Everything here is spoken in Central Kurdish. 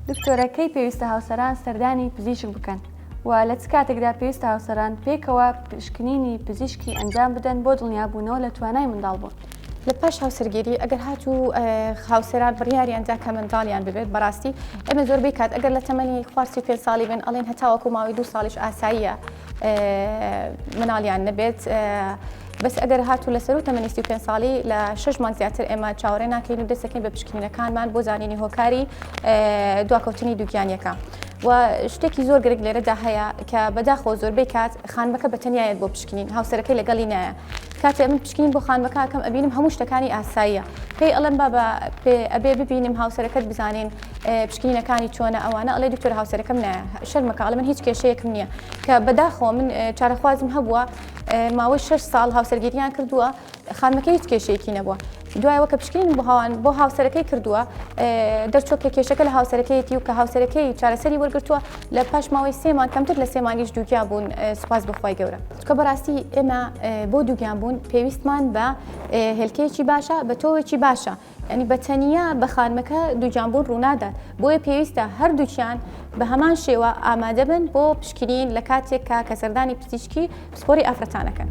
دکتۆرە کەی پێویستە هاوسەران سەردانی پزیشک بکەن؟ وە لە چ کاتێکدا پێویستە هاوسەران پێکەوە پشکنینی پزیشکی ئەنجام بدەن بۆ دڵنیابوونەوە لە توانای منداڵبوون؟ لە پاش هاوسەرگیری ئەگەر هاتوو هاوسەران بڕیاریان دا کە منداڵیان ببێت بەڕاستی ئێمە زۆربەی کات ئەگەر لە تەمەنی خوار سی و پێنج ساڵی بن ئەڵێن هەتاوەکو ماوەی دوو ساڵیش ئاساییە مناڵیان نەبێت بەس ئەگەر هاتوو لە سەرو تەمەنی سی پێ ساڵی لە شش مانگ زیاتر ئێمە چاوەڕێ ناکەین و دەستەکەین بە پشکنینەکانمان بۆ زانینی هۆکاری دواکەوتنی دووگیانیەکە و شتێکی زۆر گرنگ لێرەدا هەیە کە بەداخۆ زۆربەی کات خانمەکە بە تەنیایەت بۆ پشکنین هاوسەرەکەی لەگەڵی نایە کاتێ من پشکنین بۆ خانمەکەکەم ئەبینم هەموو شتەکانی ئاساییە پێی ئەڵم بابا پێ ئەبێ ببینم هاوسەرەکەت بزانین پشکنینەکانی چۆنە ئەوانە ئەڵێ دکتۆر هاوسەرەکەم نایە شەرمەکە ئەڵێ من هیچ کێشەیەکم نییە کە بەداخەوە من چارەخوازم هەبووە ماوەی 6 ساڵ هاوسەرگیریان کردووە خانمەکە هیچ کێشەیەکی نەبووە دوایەوە کە پشکنین بۆ هاوان بۆ هاوسەرەکەی کردووە دەرچۆک کە کێشەکە لە هاوسەرەکەیەتی و کە هاوسەرەکەی چارەسەری وەرگتووە لە پاش ماوەی سێمان کەمتر لە سێمانیش دووگیا بوون سوپاس بخوای گەورە چکە بەڕاستی ئێمە بۆ دووگیان بوون پێویستمان بە هێلکەیەکی باشە بە تۆوێکی باشە یانی بە تەنیا بە خانمەکە دووگیانبوون ڕوونادات، بۆیە پێویستە هەردووکیان بە هەمان شێوە ئامادەبن بۆ پشکنین لە کاتێکا کە سەردانی پزیشکی پسپۆری ئافرەتان ئەکەن.